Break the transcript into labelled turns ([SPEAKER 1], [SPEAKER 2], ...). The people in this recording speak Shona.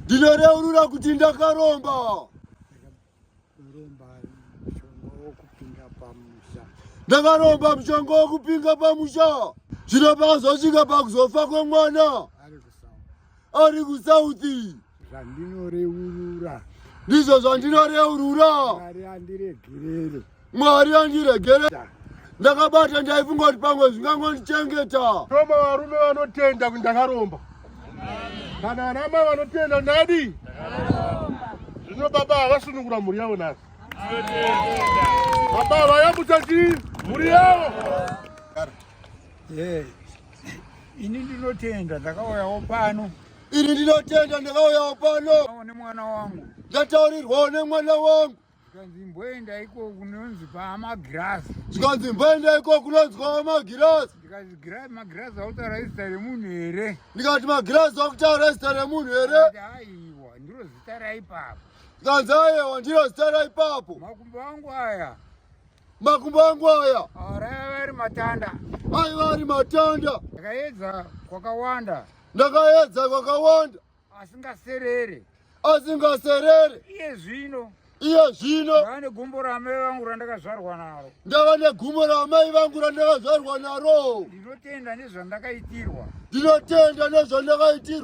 [SPEAKER 1] ndinoreurura kuti ndakaromba ndakaromba mushonga wokupinga pamusha zvino pakazosvika pakuzofa kwemwana ari kusauthi zvandinoreurura
[SPEAKER 2] ndizvo
[SPEAKER 1] zvandinoreurura mwari andiregerere mwari andiregere ndakabata ndaifunga kuti pamwe zvingangondichengeta toma varume
[SPEAKER 3] vanotenda kuti ndakaromba kana anama vanotenda ndadi zvino baba havasunungura mhuri yavo nhasi baba havayambutsa chii mhuri yavo
[SPEAKER 2] ini ndinotenda ndakauyawo pano Iri ndinotenda
[SPEAKER 1] ndakauyawo pano. Awo nemwana wangu.
[SPEAKER 2] Ndataurirwawo
[SPEAKER 1] nemwana wangu. Zvikanzi mboenda
[SPEAKER 2] iko kunonzi pamagirasi. Zvikanzi mboenda
[SPEAKER 1] iko kunonzi pamagirasi. Ndikati girasi
[SPEAKER 2] magirasi akutaura izita remunhu here? Ndikati magirasi
[SPEAKER 1] akutaura izita remunhu here? Aiwa ndiro
[SPEAKER 2] zita raipapo. Zvikanzi aiwa
[SPEAKER 1] ndiro zita raipapo. Makumbo angu aya.
[SPEAKER 2] Makumbo
[SPEAKER 1] angu aya. Arava ari
[SPEAKER 2] matanda. Aiva ari
[SPEAKER 1] matanda. Ndakaedza
[SPEAKER 2] kwakawanda. Ndakaedza
[SPEAKER 1] kwakawanda. Asingaserere.
[SPEAKER 2] Asingaserere.
[SPEAKER 1] Iye zvino. Iye zvino. Ndava negumbo ramai
[SPEAKER 2] vangu randakazvarwa naro. Ndava negumbo
[SPEAKER 1] ramai vangu randakazvarwa naro. Ndinotenda
[SPEAKER 2] nezvandakaitirwa.
[SPEAKER 1] Ndinotenda
[SPEAKER 2] nezvandakaitirwa.